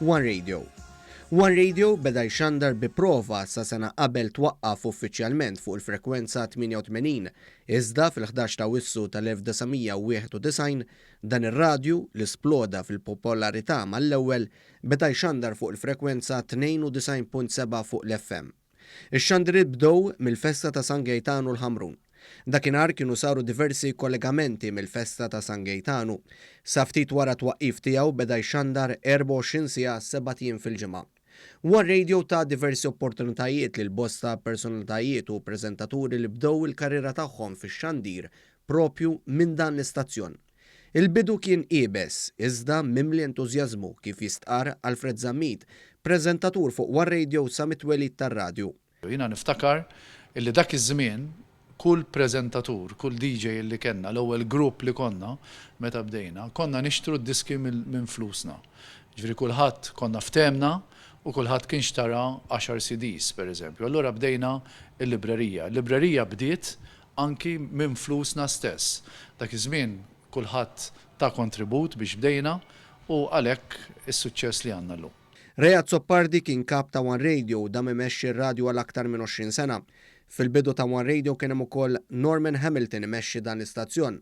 One Radio One Radio beda jxandar bi prova sa sena qabel twaqqaf uffiċjalment fuq il-frekwenza 88, iżda fil-ħdax ta' Wissu tal-1991, dan ir-radju, li sploda fil-popolarità mal-ewwel, beda jxandar fuq il-frekwenza 92.7 fuq l-FM. Ix-xandiriet bdew mill-festa ta' San Gejtanu l-Ħamrun. Dakinhar kienu saru diversi kollegamenti mill-festa ta' San Gejtanu. Sa ftit wara t-twaqqif tiegħu beda jxandar 24 siegħa sebat jiem fil-ġimgħa. Huwa r-radio ta diversi opportunitajiet lil bosta personalitajiet u preżentaturi li bdew il-karriera tagħhom fix-xandir propju minn dan l-istazzjon. Il-bidu kien iebes, iżda mimli entużjażmu, kif jistqarr Alfred Zammit, preżentatur fuq one Radio sa mit-twelid tar-radju. Jiena niftakar illi dak iż-żmien kull preżentatur, kull DJ illi kellna, l-ewwel grupp li konna meta bdejna, konna nixtru d-diski minn flusna. Jiġifieri kulħadd konna ftehemna u kulħadd kien xtara għaxar CDs, pereżempju. Allura bdejna l-librerija. Il-librerija bdiet anki minn flusna stess. Dak iż-żmien kulħadd ta kontribut biex bdejna u għalhekk is-suċċess li għandna llum. Ray Azzopardi kien kap ta' One Radio u dam imexxi r-radju għal aktar minn 20 sena. Fil-bidu ta' One Radio kien hemm ukoll Norman Hamilton imexxi dan l-istazzjon.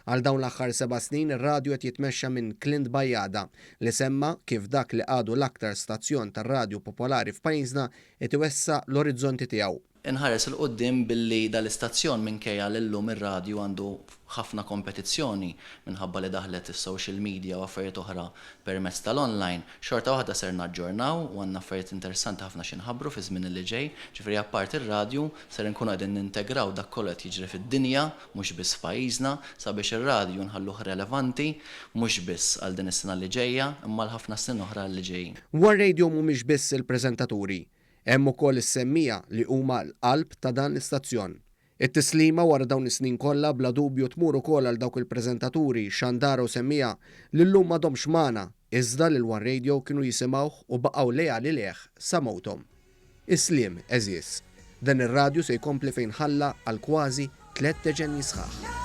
Għal dawn l-aħħar seba' snin ir-radju qed jitmexxa minn Clint Bajada li semma kif dak li għadu l-aktar stazzjon tar-radju popolari f'pajjiżna qed iwessa' l-orizzonti tiegħu. Inħares 'il quddiem billi dal-istazzjon minkejja li llum ir-radju għandu ħafna kompetizzjoni minħabba li daħlet is-social media u affarijiet oħra permezz tal-online, xorta waħda ser naġġornaw u għandna affarijiet interessanti ħafna xi nħabbru fiż-żmien li ġej. Ġifieri apparti r-radju ser inkunu qegħdin nintegraw dak kollu qed jiġri fid-dinja mhux biss f'pajjiżna, sabiex ir-radju nħalluh relevanti mhux biss għal din is-sena li ġejja, imma għal ħafna snin oħra li ġejjin. War-radio mhumiex biss il-preżentaturi, hemm ukoll is-semmiegħa li huma l-qalb ta' dan l-istazzjon. It-tislima wara dawn is-snin kollha bla dubju tmur ukoll għal dawk il-preżentaturi, xandara u semmiegħa li llum m'għadhomx magħna, iżda lil war-radio kienu jisimgħuh u baqgħu leali lejh sa mewthom. Is-sliem, għeżież. Dan ir-radju se jkompli fejn ħalla għal kważi tliet deċennji sħaħ.